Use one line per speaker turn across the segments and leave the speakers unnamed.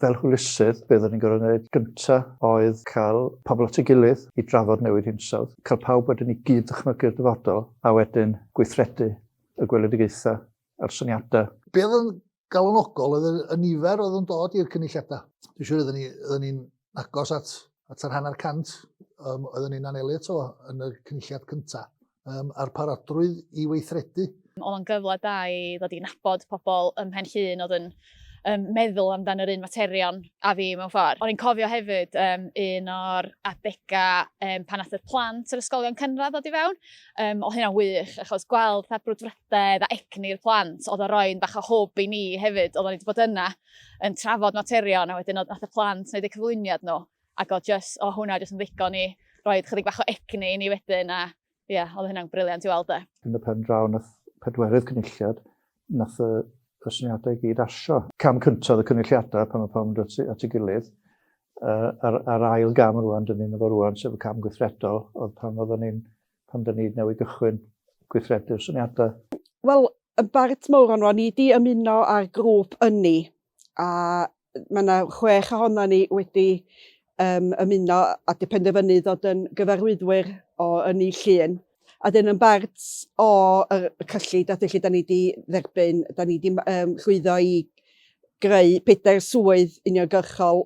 fel hwylusydd, beth o'n i'n gorfod gwneud gynta oedd cael pobl at ei gilydd i drafod newid hinsawdd, cael pawb wedyn i gyd ddychmygu'r dyfodol a wedyn gweithredu y gweledigaethau a'r syniadau. Be oedd yn
galonogol oedd y nifer oedd yn dod i'r cynulliadau. Dwi'n siŵr oedden ni'n ni, agos at, at yr hanner cant um, oeddwn ni'n anelu eto yn y cynulliad cyntaf, um, a'r parodrwydd i weithredu. Oedd o'n gyfle da
i ddod i nabod pobl ym Mhen Llun oedd yn um, meddwl amdano yr un materion a fi mewn ffordd. O'n i'n cofio hefyd um, un o'r adegau um, pan ath'r plant yr ysgolion cynradd ddod i fewn. Um, o hynna'n wych, achos gweld pa brwdfrydedd a egni'r plant oedd o roi'n bach o hwb i ni hefyd, oedd o'n wedi bod yna. yn trafod materion a wedyn oedd y plant wneud y cyflwyniad nhw ac oedd just, o hwnna jyst yn ddigon i roi chydig bach o egni i ni wedyn a ie, yeah, oedd hynna'n briliant i weld e. Yn y pen draw nath
pedwerydd cynulliad, nath y, y syniadau i gyd asio. Cam cyntaf y cynulliadau pan mae pawb yn dod at ei gilydd, uh, ar, ar ail gam rwan, dyn ni'n efo rwan, sef y cam gweithredol, oedd pan oedden ni'n pan da ni newydd gychwyn gweithredu'r syniadau? Wel, yn
bart mawr o'n ni wedi ymuno â'r grŵp ynni a mae yna chwech ohono ni wedi um, ymuno a di penderfynu ddod yn gyfarwyddwyr o ynni llun a dyn yn bart o y cyllid a lle da ni wedi dderbyn, da ni wedi um, llwyddo i greu pedair swydd uniongyrchol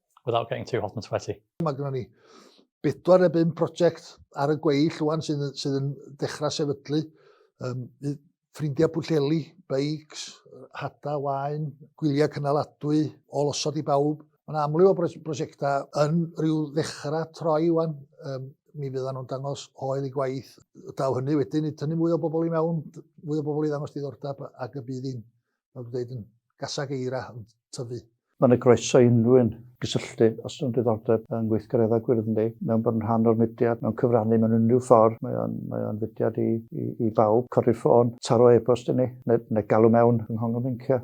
without getting too hot and sweaty. Mae gynnon ni
bedwar neu bum prosiect ar y gweill rwan sydd, sydd yn dechrau sefydlu. Um, ffrindiau Pwllheli, beics, hada, wain, gwyliau cynaladwy, ôl osod i bawb. Mae'n amlwg o brosiectau yn rhyw ddechrau troi wan. Um, mi fyddan nhw'n dangos hoel i gwaith. Daw hynny wedyn i tynnu mwy o bobl i mewn, mwy o bobl i ddangos diddordeb ac y bydd hi'n fel dwi'n dweud, yn gasag eira, yn tyfu. Mae'n ei groeso i
unrhyw un gysylltu os yw'n diddordeb yn gweithgareddau gwyrdd ynddi, mewn bod yn rhan o'r mudiad, mewn cyfrannu mewn unrhyw ffordd, mae o'n, mae o'n fudiad i, i, i bawb, codi'r ffôn, taro e-bost i ni, neu, neu galw mewn yng Nghongl Mincio.